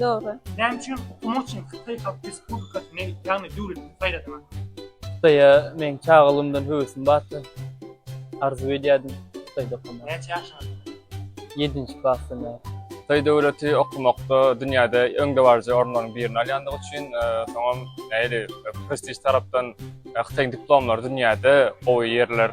Dogry. Näme üçin okumak üçin Hytaý Halk Respublikasyny, ýagny döwletini saýladyňyz? Hytaýa meň çagalygymdan höwesim bardy. Arzuw edýärdim Hytaýda okamagy. Näçe ýaşyňyz bar? Ýedinji klasdan bäri. Hytaý döwleti okumakda dünýäde öňdebaryjy orunlaryň birini alýandygy üçin, soňam nähili prestiž tarapdan Hytaýyň diplomlary dünýäde gowy ýerler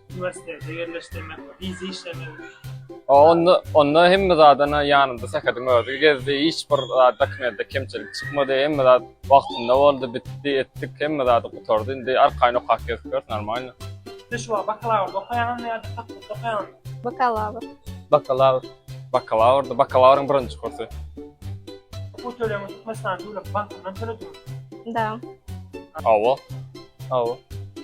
Uniwersitete ýerleşdirmek, wiza işlemek. Onda, onda hemme zadan ýanymda Sähediň özi gezdi. Hiç bir zat dokumentde kemçilik çykmady. Hemme zat wagtynda boldy, bitdi, etdik. Hemme zat gutardy. Indi arkaýyn okap gezip ýörüs, normalno. Siz şu wagt bakalawrda okaýaňyzmy ýa-da fakultetde okaýaňyzmy? Bakalawr. Bakalawr. Bakalawrda, bakalawryň birinji kursy. Okuw tölegini Türkmenistanyň Döwlet bankyndan tölediňizmi? Da. Hawa. Hawa.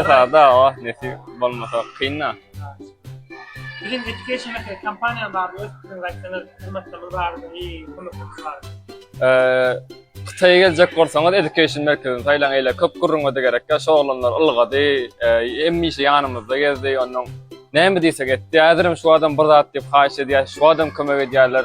Esada o nesip bolmasa kynda. Bilim Education Mekdep kompaniýa bar, öz pikiriňizi aýtsaňyz, hyzmatlarymyz bar, iyi kömeklerimiz bar. Hytaýa geljek bolsaňyz Education merkezini saýlaň, eýle köp gürrüňe-de gerek ýok, şu oglanlar ylgady, hemişe ýanymyzda gezdi, onnoň näme diýsek etdi, häzirem şu adam bir zat diýip haýyş edýär, şu adam kömek edýärler.